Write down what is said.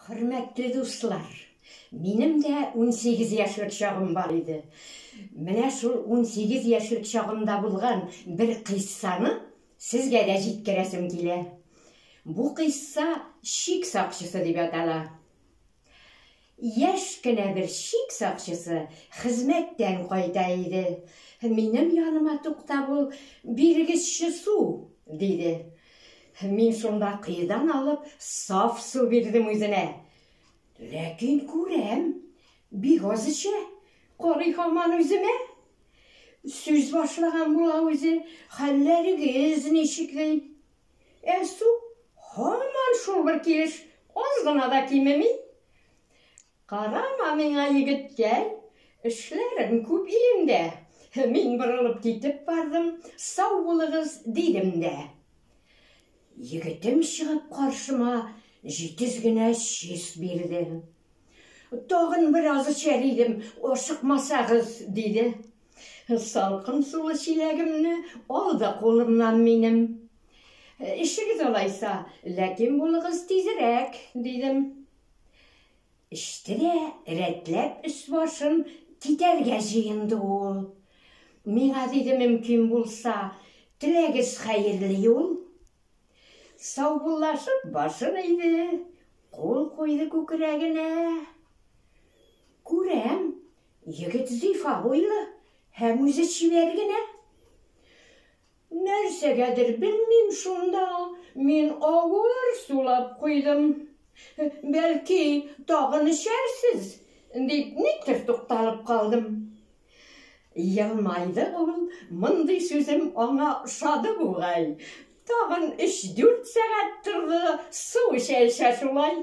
Хөрмәтле дуслар, минем дә 18 яшьлек чагым бар иде. Менә шул 18 яшьлек чагымда булган бер кыйссаны сезгә дә җиткерәсем килә. Бу кыйсса шик сакчысы дип атала. Яшь кенә бер чик сакчысы хезмәттән кайта иде. Минем яныма туктап ул, Бирегезче су! диде. Мин шунда коедан алып саф су бирдем үзенә. Ләкин күрәм, бик аз эчә, карый һаман үземә. Сүз башлаган була үзе, Хәлләрегез ничек? ди. Ә су һаман шул бер килеш, аз гына да кимеми. Карама миңа, егеткәй, эшләрем күп илемдә. Мин борылып китеп бардым, сау булыгыз дидем дә. Егетем чыгып каршыма җитез генә чиз бирде. Тагын бераз эчәр идем, ашыкмасагыз, диде. Салкын сулы чиләгемне ал да кулымнан минем. Эчегез алайса, ләкин булыгыз тизрәк, дидем. Эчте дә, рәтләп өс-башын китәргә җыенды ул. Миңа диде, мөмкин булса, теләгез хәерле юл. Саубуллашып башын иде, кул куйды күкрәгенә. Күрәм, Егет зифа буйлы һәм үзе чибәр генә. Нәрсәгәдер белмим шунда, мин авыр сулап куйдым. Бәлки, тагын эчәрсез, дип никтер тукталып калдым. Елмайды ул, мондый сүзем аңа ошады бугай. Тагын өч-дүрт сәгать торды, су эчә-эчә шулай.